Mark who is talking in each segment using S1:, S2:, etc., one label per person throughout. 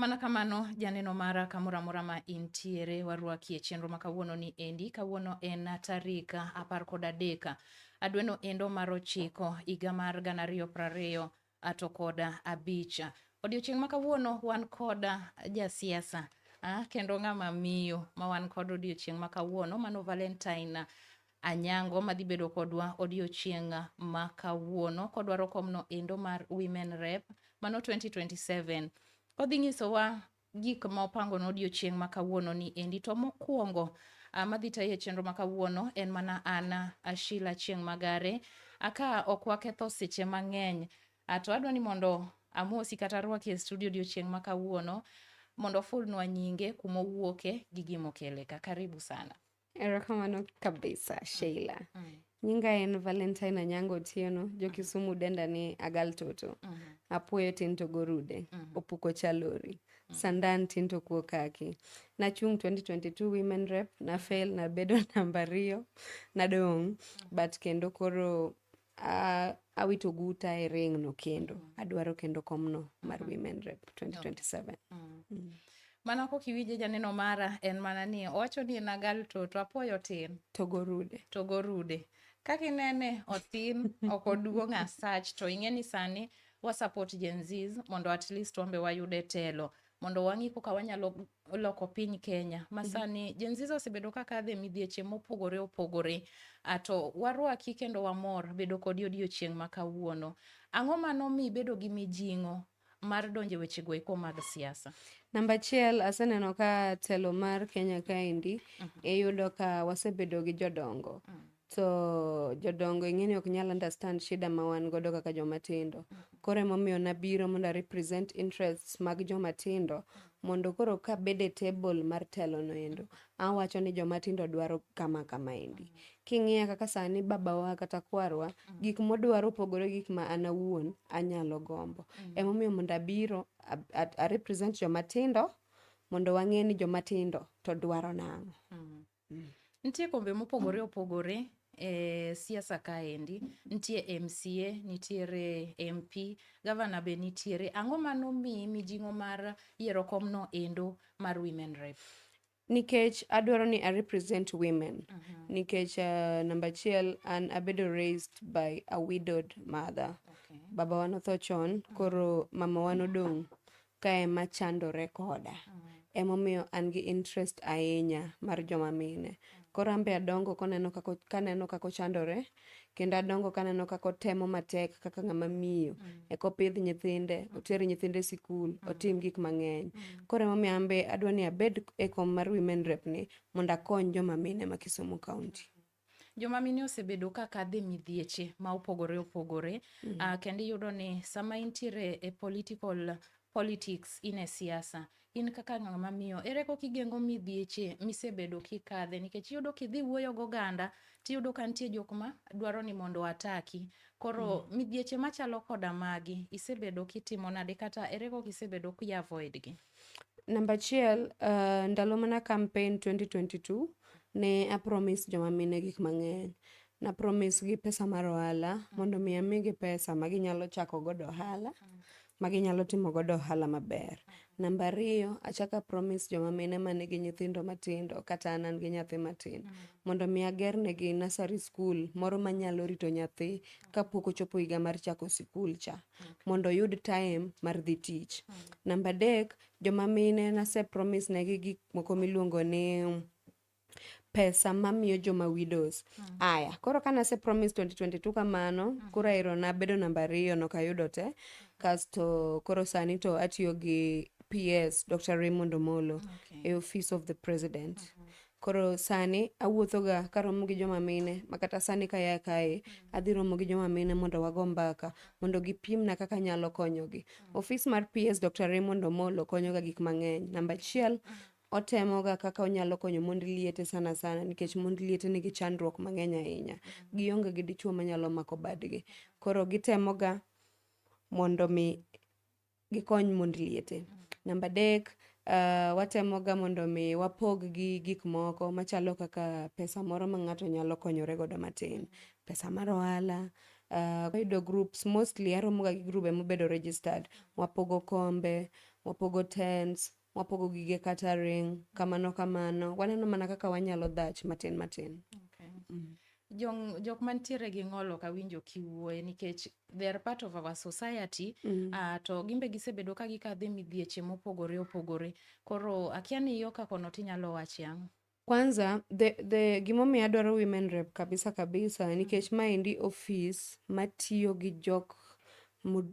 S1: Mana kamano, janeno mara kamoro amora ma intiere, warwaki e chenro ma kawuono ni endi. Kawuono en tarik apar kod adek adweno endo mar ochiko higa mar gana ariyo prariyo to kod abich. Odiochieng' ma kawuono wan kod jasiasa ah, kendo ng'ama miyo ma wan kod odiochieng' ma kawuono mano Valentine Anyango madhi bedo kodwa odiochieng' ma kawuono kodwaro komno endo mar Women Rep mano 2027. Odhi nyisowa gik ma opango no odiochieng' ma kawuono ni endi to mokwongo ah, madhi tayo e chenro ma kawuono en mana an ah, Sheila Chieng' Magare aka ok waketho seche mang'eny Ah, to adwa ni mondo amosi kata arwaki e studio odiochieng' ma kawuono mondo ofulnwa nyinge kuma owuoke gi gima okele ka karibu sana Erokamano kabisa mm. Sheila. Mm. Nyinga en Valentine Anyango Otieno, jo mm. Kisumu denda ni Agal Toto. Mm -hmm. Apuoyo tin to gorude, mm -hmm. opuko chalori. Mm. Sandan tin to kuo kaki. Nachung 2022 women rep, na fail na bedo namba riyo, nadong. Mm. But kendo koro Uh, awito guta e ring no kendo mm. adwaro kendo komno mar mm. women rep 2027 mm. mm. mana kok iwinje janeno mara en mana ni owacho ni en agal to to apoyo tin to gorude to gorude kaka inene othin ok oduong' asach to ing'e ni sani wasupport gen zs mondo at least wambe wayude telo mondo wang'i koka wanyalo loko piny Kenya. Mhm. Masani Gen Z osebedo ka kadhe midhieche mopogore opogore. Ato warwaki kendo wamor bedo kodi odiochieng' ma kawuono. Ang'o mano mi bedo gi mijing'o mar donje weche goeko mag siasa? Namba achiel aseneno ka telo mar Kenya kaendi mhm. iyudo ka wasebedo gi jodongo. Mhm. to jodongo ing'eni ok nyal understand shida ma wan godo kaka joma tindo koro emomiyo nabiro mondo a represent interests mag joma tindo mondo koro ka bede table mar telo no endo awacho ni joma tindo dwaro kama kama endi king'iya kaka sani babawa kata kwarwa gik modwaro opogore gik ma an awuon anyalo gombo emomiyo mondo abiro a, a, a represent joma tindo mondo wang'e ni joma tindo to dwaro nang'o Nitie kombe mopogore opogore e siasa kaendi, nitie MCA, nitiere MP, gavana be nitiere. Ang'o ma nomiyi mijing'o mar yiero komno endo mar Women Rep? Nikech adwaro ni a represent women. Mhm. Nikech uh, namba achiel an abedo raised by a widowed mother. Okay. Babawa notho chon, koro mamawa nodong' ka ema chandore koda emomiyo an gi interest ahinya mar joma mine koro ambe adongo koneno kako kaneno kako chandore kendo adongo kaneno kako temo matek kaka ng'ama miyo mm. eko pidh nyithinde mm. oter nyithinde e sikul mm. otim gik mang'eny mm. koro emomiyo ambe adwa ni abed e kom mar women rep ni mondo akony joma mine ma Kisumu County Joma mine osebedo ka kadhe midhieche ma opogore opogore mm -hmm. uh, kendo iyudo ni sama intiere e political politics in e siasa in kaka ng'ama miyo ere kok igengo midhieche misebedo kikadhe nikech iyudo kidhi wuoyo goganda tiyudo ka nitie jok ma dwaro ni mondo ataki koro mm. midhieche machalo koda magi isebedo kitimo nade kata ere kok isebedo kiavoid gi Namba achiel, uh, ndalo mana campaign 2022 ne apromise joma mine gik mang'eny. Na promise gi pesa mar ohala mondo mi amigi pesa ma ginyalo chako godo ohala ma ginyalo timo godo ohala maber. Namba ariyo, achako apromise joma mine ma nigi nyithindo matindo kata an an gi nyathi matin mondo mi ager negi nursery school moro manyalo rito nyathi kapok ochopo higa mar chako sikul cha. mondo oyud time mar dhi tich. Namba adek, joma mine nase promise negi gik moko miluongo ni pesa mamiyo joma widows mm. aya koro ka nase promise 2022 kamano mm. koro aero nabedo namba ariyo nokayudo te mm. kasto koro sani to atiyo gi PS Dr. Raymond Omolo okay. e office of the president mm -hmm. Koro sani awuothoga karomo gi joma mine ma kata sani kaya kae adhi romo gi joma mine mondo wago mbaka mondo gipimna kaka nyalo konyogi. Ofis mar PS Dr. Raymond Omolo konyoga gik mang'eny. Namba achiel otemoga kaka onyalo konyo mond liete sana sana nikech mond liete nigi chandruok mang'eny ahinya. Gionge gi dichwo manyalo mako badgi. Koro gitemoga mondo mi gikony mond liete. Namba adek, uh, watemoga mondo mi wapog gi gik moko machalo kaka pesa moro ma ng'ato nyalo konyore godo matin, pesa mar ohala, uh, wayudo groups mostly aromoga gi grube mobedo registered, wapogo kombe, wapogo tents, Wapogo gige kata ring kamano kamano. Waneno mana kaka wanyalo dhach matin matin. Okay. Mm. Jong, jok mantiere gi ng'ol ok awinjo kiwuoye nikech they are part of our society mm. uh, to gimbe gisebedo ka gikadhe midhieche mopogore opogore koro akia ni yo kakono tinyalo wache ang'o Kwanza the, the gimomiyo adwaro women rep kabisa kabisa mm. nikech maendi ofis matiyo gi jok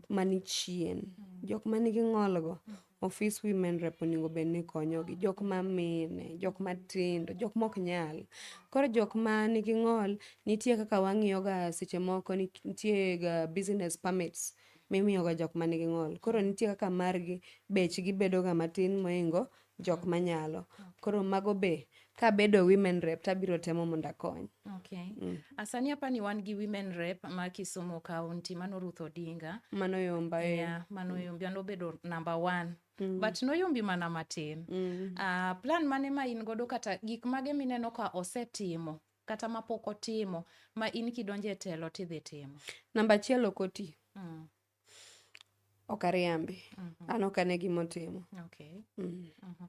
S1: mani chien mm. jok manigi ng'olgo mm. ofis women rep onego bed ni konyogi jok ma mine jok matindo jok mok nyal koro jok ma nigi ng'ol nitie kaka wang'iyoga seche moko nitie ga business permits mimiyoga jok ma nigi ng'ol koro nitie kaka margi bechgi bedoga matin moingo jok manyalo koro mago be kabedo women rep tabiro temo mondo akony okay. mm. asani apa ni wan gi women rep ma kisumu county mano ruth odinga mano yomba eh. yeah, mano mm. yombi anobedo number one Mm. but noyombi mana matin mm. uh, plan mane ma in godo kata gik mage mineno ka osetimo kata ma pok otimo ma in kidonje telo tidhi timo namba achiel ok oti mm. ok ariambi mm -hmm. an ok ane gima otimo okay. mm. mm -hmm.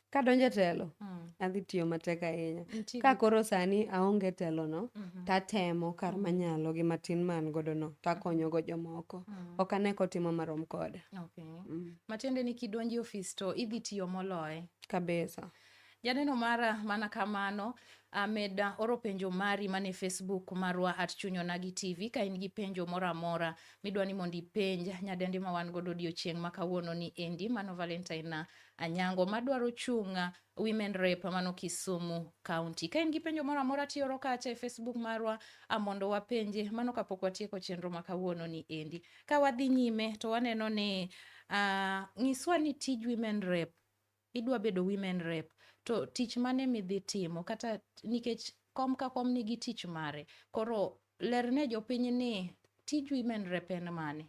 S1: kadonje telo mm. adhi tiyo matek ahinya ka koro sani aonge telono mm -hmm. tatemo kar mm. manyalo gi matin man godo no takonyogo mm-hmm. jomoko mm. ok ane kotimo marom koda okay. mm. matiende ni kidonje ofis to idhi tiyo moloye kabisa Janeno mara mana kamano amed ah, oro penjo mari mane Facebook marwa at Chuny Onagi TV ka in gi penjo moro amora midwa ni mondo ipenj nyadendi ma wan godo odiochieng' ma kawuono ni endi mano Valentine ah, Anyango madwaro chung' ah, Women Rep mano Kisumu County. Ka in gi penjo moro amora tioro kacha e Facebook marwa amondo wapenje mano kapok watieko chenro ma kawuono ni endi. Ka wadhi nyime to waneno ni uh, ng'iswa ni tij Women Rep idwa bedo women rep to tich mane midhi timo kata nikech kom ka kom nigi tich mare koro lerne jopiny ni tij women rep en mane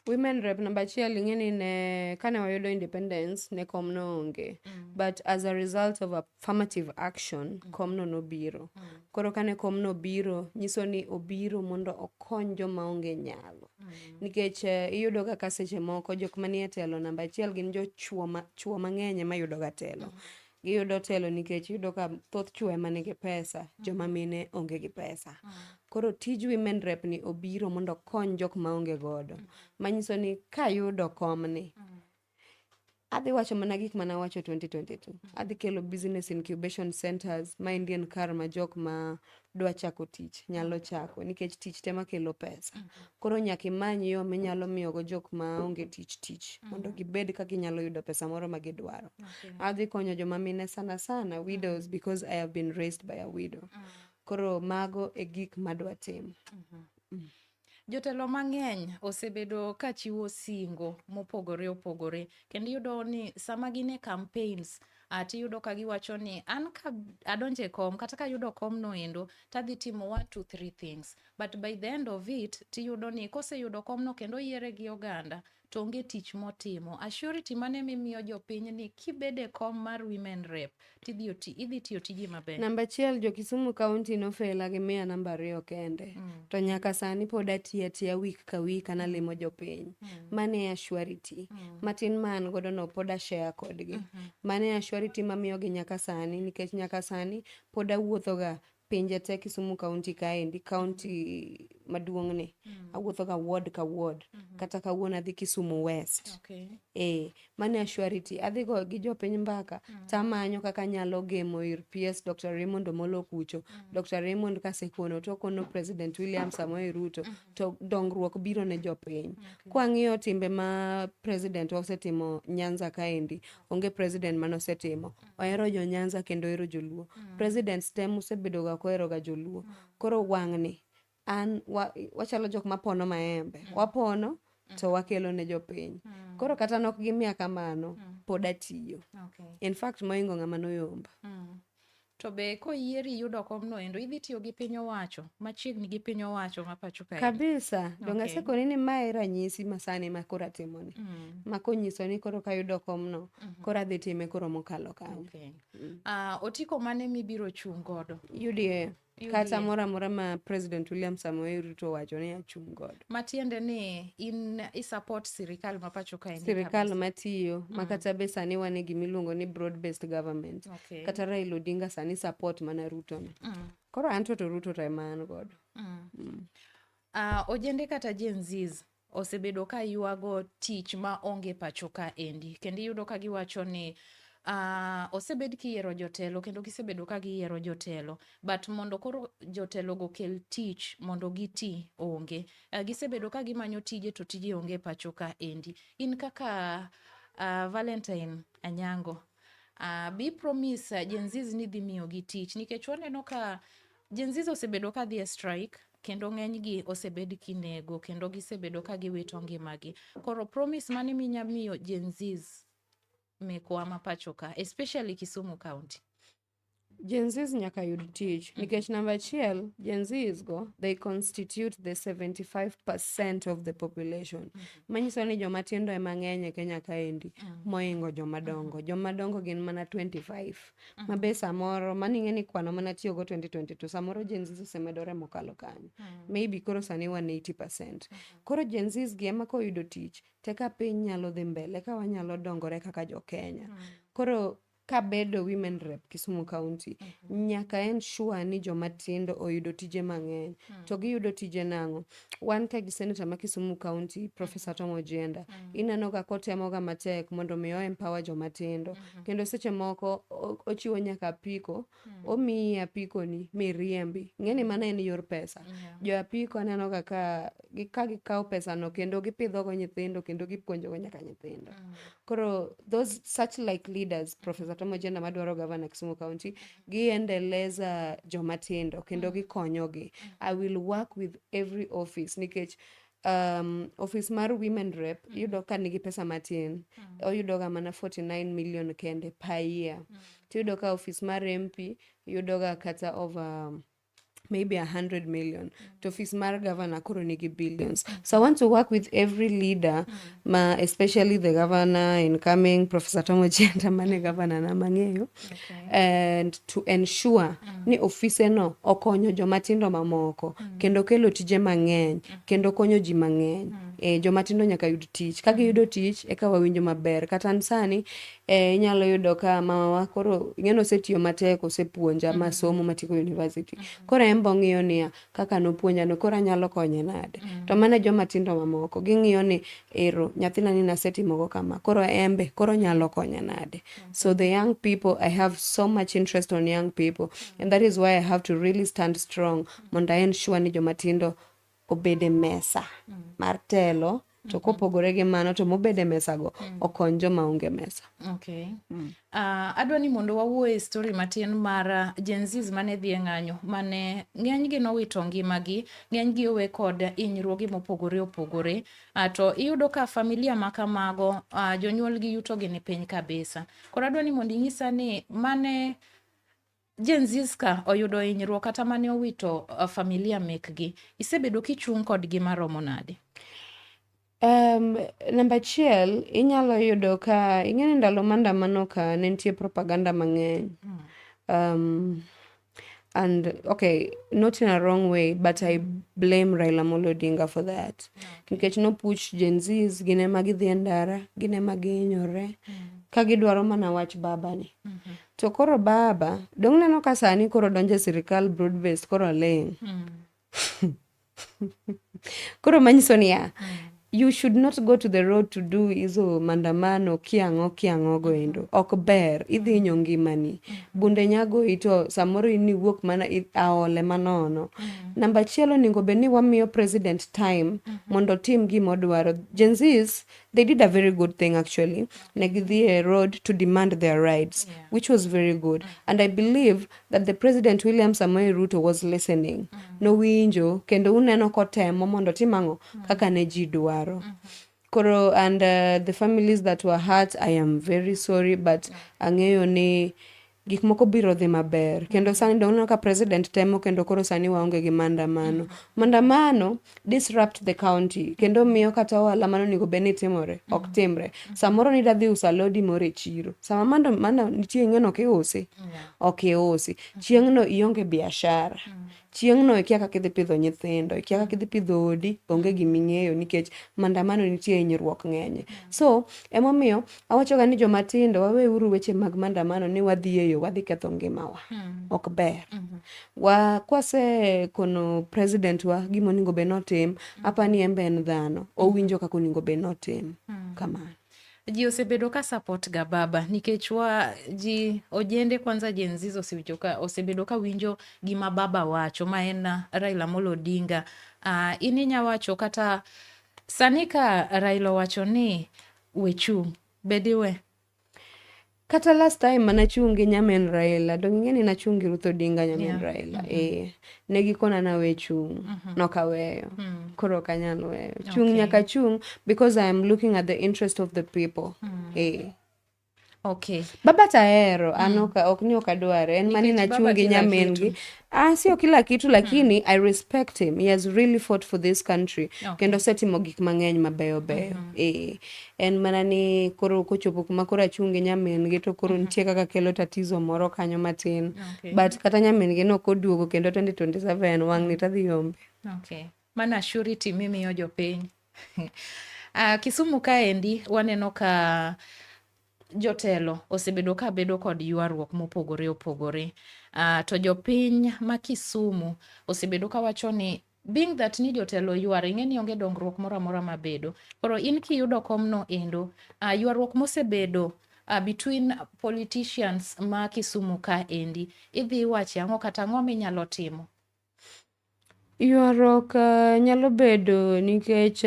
S1: women rep namba achiel ing'e ni ne kane wayudo independence ne kom no onge mm. but as a result of affirmative action mm. kom no nobiro mm. koro kane kom no biro nyiso ni obiro mondo okony joma onge nyalo mm. nikech eh, iyudo ga ka seche moko jok manie telo namba achiel gin jochuo ma- chuo mang'eny ema yudoga telo giyudo telo nikech iyudo ka thoth chuo ema nigi pesa joma mine onge gi pesa koro tij women rep ni obiro mondo okony jok ma onge godo manyiso ni kayudo komni adhi wacho mana gik mana wacho 2022 adhi kelo business incubation centers ma indian car ma jok ma dwa chako tich nyalo chako nikech tich tema kelo pesa koro nyaka imany yo minyalo miyogo jok ma onge tich tich mondo gibed ka ginyalo yudo pesa moro ma gidwaro Okay. adhi konyo joma mine sana sana widows because i have been raised by a widow koro mago e gik madwa timo Jotelo mang'eny osebedo ka chiwo singo mopogore opogore kendo iyudo ni sama gin e campaigns ah, tiyudo ka giwacho ni an ka adonje kom kata ka ayudo kom noendo tadhi timo one two three things but by the end of it tiyudo ni koseyudo komno kendo oyiere gi oganda to onge tich motimo. Assurity mane mimiyo jopiny ni kibede kom mar women rep tidhi oti, idhi tiyo tiji maber. Namba achiel jo Kisumu County nofela gi miya namba ariyo kende mm. to nyaka sani pod atiya tiya week ka week an alimo jopiny mm. mane assurity mm. matin ma an godo no pod ashare kodgi mm -hmm. mane assurity mamiyogi nyaka sani nikech nyaka sani pod awuothoga pinje te Kisumu kaunti kaendi, kaunti maduong'ni, awuothoga ward ka ward. Kata kawuono adhi Kisumu West. Okay. Eh, mano e surety. Adhi go gi jopiny mbaka, tamanyo kaka anyalo gemo ir PS Dr. Raymond Omolo Kucho. Dr. Raymond kasekono, tokono President William Samoei Ruto, to dongruok biro ne jopiny. Kwang'iyo timbe ma president wa osetimo Nyanza kaendi, onge president mane osetimo. ohero jo Nyanza kendo ohero joluo. Mm. Presidents te musebedo ga kohero ga joluo. Mm. Koro wang'ni an wa, wachalo jok mapono maembe. Mm. Wapono mm. to wakelo ne jopiny. Mm. Koro kata nok gimiya kamano mm. pod atiyo. Okay. In fact moingo ng'ama noyomba. Mm. To be koyieri yudo komno endo idhi tiyo gi piny owacho machiegni gi piny owacho ma pacho kae. Kabisa. Okay. Donga sekoni ni mae ranyisi masani ma koro atimoni. Mm. Ma konyiso ni koro kayudo komno Mhm. koro adhi time koro mokalo kanyo okay. mm. uh, otiko mane mibiro chung' godo UDA kata moro amora ma president William Samoei Ruto wacho ni achung' godo matiende ni in isupport sirikal ma pacho kae sirikal matiyo mm. ma kata be sani wan e gimiluongo ni broad based government okay. kata Raila Odinga sani support mana Ruto ni mm. koro anto to Ruto to ema an godo mm. mm. uh, ojende kata Gen Zs osebedo ka ywago tich ma onge pacho ka endi kendo iyudo ka giwacho ni Uh, osebed kiyiero jotelo kendo gisebedo ka giyiero jotelo but mondo koro jotelo go kel tich mondo giti onge uh, gisebedo ka gimanyo tije to tije onge pacho ka endi in kaka uh, Valentine Anyango uh, bi promise uh, Gen Z ni dhi miyo gi tich nikech waneno ka Jenzis osebedo ka dhi e strike kendo ng'enygi osebed kinego kendo gisebedo ka giwito ngimagi. Koro promise mane minya miyo Gen Zs mekwa ma pacho ka especially Kisumu County. Gen Zs nyaka yud tich mm. nikech namba achiel Gen Zs go they constitute the 75% of the population mm -hmm. manyiso ni joma tindo ema ng'eny e Kenya kaendi mm. moingo joma dongo mm. joma dongo gin mana 25 Mm. ma be samoro mano ing'e ni kwano mana tiyogo 2022 samoro Gen Zs osemedore mokalo kanyo mm. maybe koro sani wan 80 percent mm -hmm. koro Gen Zs gi ema koyudo tich te ka piny nyalo dhi mbele ka wanyalo dongore kaka jo Kenya mm. koro kabedo women rep Kisumu County mm -hmm. nyaka en sure ni joma tindo oyudo tije mang'eny mm. to giyudo tije nang'o wan ka gi seneta ma Kisumu County Professor Tom Ojienda mm. ineno ka kotemoga matek mondo mi o empower joma tindo mm-hmm. kendo seche moko ochiwo nyaka apiko mm. omiyi apikoni miriembi ng'eni mano en yor pesa yeah. jo apiko aneno ga ka ka gikawo pesano kendo gipidhogo nyithindo kendo gipuonjogo nyaka nyithindo mm. koro those such like leaders Professor Tom Ojienda madwaro gavana Kisumu County giendeleza jomatindo kendo gikonyogi i will work with every office nikech um, office mar women rep yudo ka nigi pesa matin oyudoga mana 49 million kende per year tiyudo ka office mar mp yudoga kata over maybe a hundred million to office mar governor koro nigi billions so i want to work with every leader ma especially the governor incoming professor tom ojienda mane governor na mang'eyo and to ensure ni ofise no okonyo joma tindo mamoko kendo kelo tije mang'eny kendo konyo ji mang'eny e, joma tindo nyaka yud tich ka giyudo tich eka wawinjo maber kata an sani Eh, inyalo yudo ka mamawa koro ing'eni osetiyo matek osepuonja mm-hmm. masomo matieko university mm-hmm. koro en be ong'iyo niya kaka nopuonjano koro anyalo konye nade mm-hmm. to mana joma tindo mamoko ging'iyo ni ero nyathina ni nasetimogo kama koro en be koro nyalo konye nade so the young people i have so much interest on young people and that is why i have to really stand strong mondo i ensure ni joma tindo obed e mesa mm. mar telo to mm-hmm. kopogore gi mano to mobed e mesago mm. okony joma onge mesa okay. mm. uh, adwa ni mondo wawuo e story matin mar ah, jenzis mane dhi e ng'anyo mane ng'enygi nowito ngimagi ng'enygi owe kod inyruogi mopogore opogore uh, to iyudo ka familia ma kamago uh, jonyuolgi yutogi ni piny kabisa koro adwa ni mondo inyisa ni mane Jenziska oyudo hinyruok kata mane owito uh, familia mekgi. Isebedo kichung' kodgi maromo nade? Um, namba achiel inyalo yudo ka ing'eni ndalo mandamano ka ne nitie propaganda mang'eny hmm. um, and okay not in a wrong way but i blame raila molo odinga for that nikech nopuch gen zs gin ema gidhi e ndara gin ema gihinyore mm. ka gidwaro mana wach babani mm-hmm. To koro baba, dong' neno ka sani koro donjo e sirikal broad based koro ling'. Mm. koro manyiso niya, mm. you should not go to the road to do hizo mandamano kiang'o kiang'o go endo mm-hmm. ok ber idhi inyo ngimani mm. bunde nyago ito samoro in iwuok mana aole manono mm. namba chielo ningo bed ni wamiyo president time mm -hmm. mondo tim gima odwaro jenzis they did a very good thing actually negithie road to demand their rights yeah. which was very good mm. and i believe that the president william samoei ruto was listening mm. nowinjo kendo uneno kotemo mondo tim ang'o mm. kaka ne ji dwaro mm. koro and uh, the families that were hurt i am very sorry but mm. ang'eyo ni gik moko biro dhi maber kendo sani doneno ka president temo kendo koro sani waonge gi maandamano maandamano disrupt the county kendo miyo kata ohala mano onego bed ni timore ok timre samoro ni dadhi usa lodi moro e chiro sama mando mana nitie ng'eno kiusi ok iusi chieng'no ionge biashara chieng'no ikia kaka idhi pidho nyithindo ikia kaka idhi pidho odi onge gima ing'eyo nikech mandamano nitie hinyruok ng'enye so emomiyo awachoga ni joma tindo waweuru weche mag mandamano ni wadhi e yo wadhi ketho ngimawa hmm. ok ber hmm. wa kwase kono president wa gima onego bed notim hmm. apa ni en be en dhano owinjo kaka onego bed notim kamano ji osebedo ka support ga baba nikech wa ji ojende kwanza Gen Z osewinjo ka osebedo ka winjo gima baba wacho ma en uh, Raila Amolo Odinga. Uh, in inya wacho kata sani ka Raila wacho ni wechung' bediwe kata last time mana chungi nyamin Raila donge ing'e ni nachungi Ruth Odinga nyamin yeah. Raila mm -hmm. eh ne gikona na we chung mm -hmm. nok aweyo mm -hmm. koro ok anyal weyo chung okay. nyaka chung because I am looking at the interest of the people mm -hmm. eh Okay. Baba tahero an mm. ok ni ok adware en mani nachungi nyamin gi Ah, sio kila kitu hmm. lakini mm. I respect him. He has really fought for this country. Okay. Kendo setimo gik mang'eny mabeyo beyo. Mm -hmm. E, eh, en mana ni koro kochopo kuma koro achunge nyamin gi to koro mm -hmm. nitie kaka kelo tatizo moro kanyo matin. Okay. But kata nyamin gi no koduogo kendo 2027 wang' ni tadhi yombe. Okay. Mana surety mimi yo jopiny. uh, Kisumu kaendi waneno ka Jotelo osebedo ka bedo kod ywaruok mopogore opogore. Uh, to jopiny ma Kisumu osebedo ka wacho ni being that ni jotelo ywar ing'e ni onge dongruok moro amora mabedo. Koro in kiyudo komno endo, uh, ywaruok mosebedo uh, between politicians ma Kisumu ka endi, idhi wache ang'o kata ang'o minyalo timo? Ywaruok nyalo bedo nikech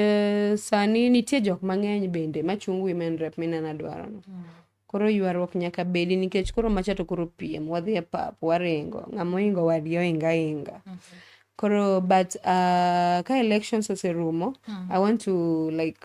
S1: sani nitie jok mang'eny bende machung' women rep minena dwarono. Mm. Koro ywaruok nyaka bedi nikech koro macha to koro piem, wadhi e pap, waringo, ng'ama oingo wadgi oinga inga. Mm -hmm. Koro but uh, ka elections oserumo, mm. I want to like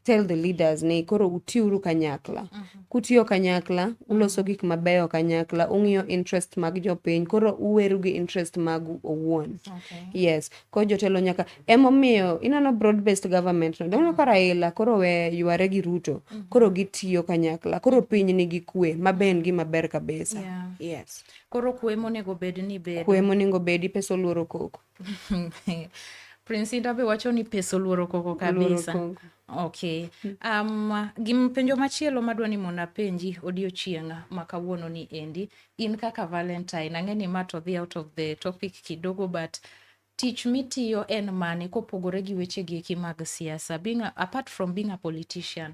S1: tell the leaders ni koro utiuru kanyakla uh -huh. kutiyo kanyakla uloso gik mabeyo kanyakla ung'iyo interest mag jopiny koro uweru gi interest magu owuon okay. yes ko jotelo nyaka emomiyo ineno broad based government no doneno ka raila koro we yware gi ruto uh mhm. -huh. koro gitiyo kanyakla koro piny nigi kwe maben gi maber kabisa yeah. yes koro kwe monego bed ni bed kwe monego bedi pesa oluoro koko Prince Indah be wacho ni pesa oluoro koko kabisa. Oluoro koko. Okay. Hmm. Um, gim penjo machielo madwa ni mondo apenji odiochieng' ma kawuono ni endi in kaka Valentine ang'e ni ma to dhi out of the topic kidogo but tich mitiyo en mane kopogore gi wechegi eki mag siasa being a, apart from being a politician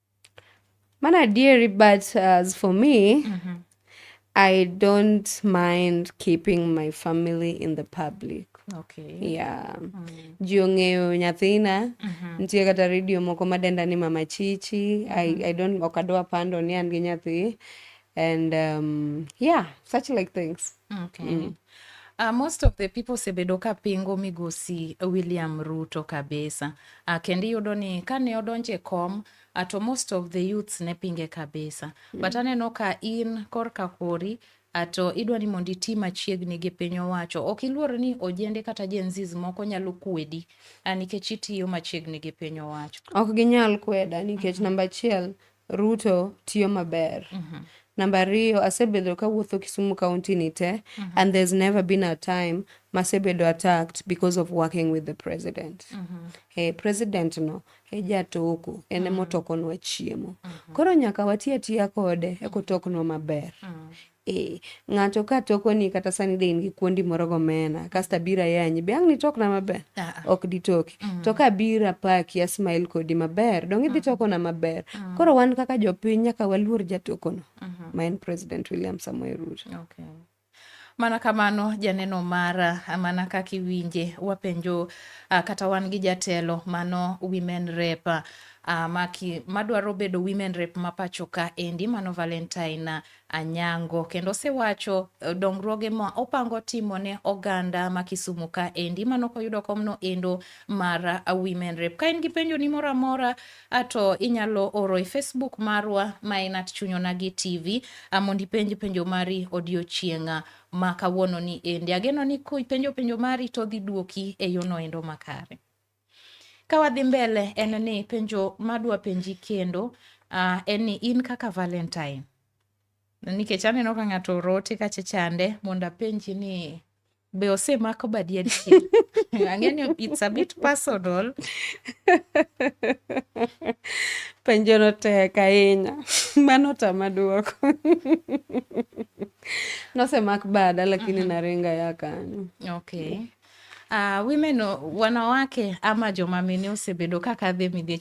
S1: Man adieri but as for me mm-hmm. I don't mind keeping my family in the public. Okay. Yeah. Mm. Ji ong'eyo nyathina. Mm -hmm. Nitie kata redio moko madenda ni Mama Chichi. Mm -hmm. I, mm-hmm. I don't ok adwa pando ni an gi nyathi. and um, yeah such like things okay. mm. Uh, most of the people osebedo ka pingo migosi William Ruto kabisa. Uh, kendo iyudo ni kane odonje e kom uh, to most of the youths ne pinge kabisa. Mm. But aneno ka in korka kori uh, to idwa ni mondo iti machiegni gi piny owacho. Ok iluor ni ojende kata Gen Zs moko nyalo kwedi uh, nikech itiyo machiegni gi piny owacho. Ok ginyal kweda nikech mm -hmm. namba achiel Ruto tiyo maber. Mm -hmm. Namba ariyo, asebedo kawuotho Kisumu County ni te mm -hmm. and there's never been a time masebedo attacked because of working with the president. Mm -hmm. Hey, president no e jatoko en ema mm-hmm. otokonwa chiemo. Mm -hmm. Koro nyaka wati atiya kode ekotoknwa maber. Mm -hmm. Eh, ng'ato ka tokoni kata sani de in gi kuondi moro gomena kasto abiro ayanyi be ang' nitokna maber ah, ah. ok ditoki mm. to ka abiro apaki asmail kodi maber dong idhi mm. tokona maber mm. koro wan kaka jopiny nyaka waluor jatokono mm -hmm. ma en president william samoei ruto okay. Mana kamano janeno mara, mana kaka iwinje wapenjo uh, kata wan gi jatelo mano women rep uh, maki madwaro bedo women rep ma pacho ka endi mano Valentine Anyango kendo osewacho eh, dongruoge ma opango timo ne oganda ma Kisumu ka endi mano koyudo komno endo mar eh, Women Rep. Ka in gi penjo ni moro amora eh, to inyalo oro e Facebook marwa ma en at Chunyonagi TV mondo ipenj penjo mari odiochieng'a ma kawuono ni endi. Ageno ni kipenjo penjo mari to dhi duoki e yono endo makare. Ka wadhi mbele en ni penjo madwa penji kendo uh, en ni in kaka Valentine nikech aneno ka ng'ato orote kacha chande mondo apenji ni be osemako badi adier ang'e ni it's a bit personal penjo no tek ahinya mano tama duoko nosemak bada lakini mm -hmm. naringa ya kanyo okay Uh, women wanawake ama joma mine osebedo ka kadhe midhiech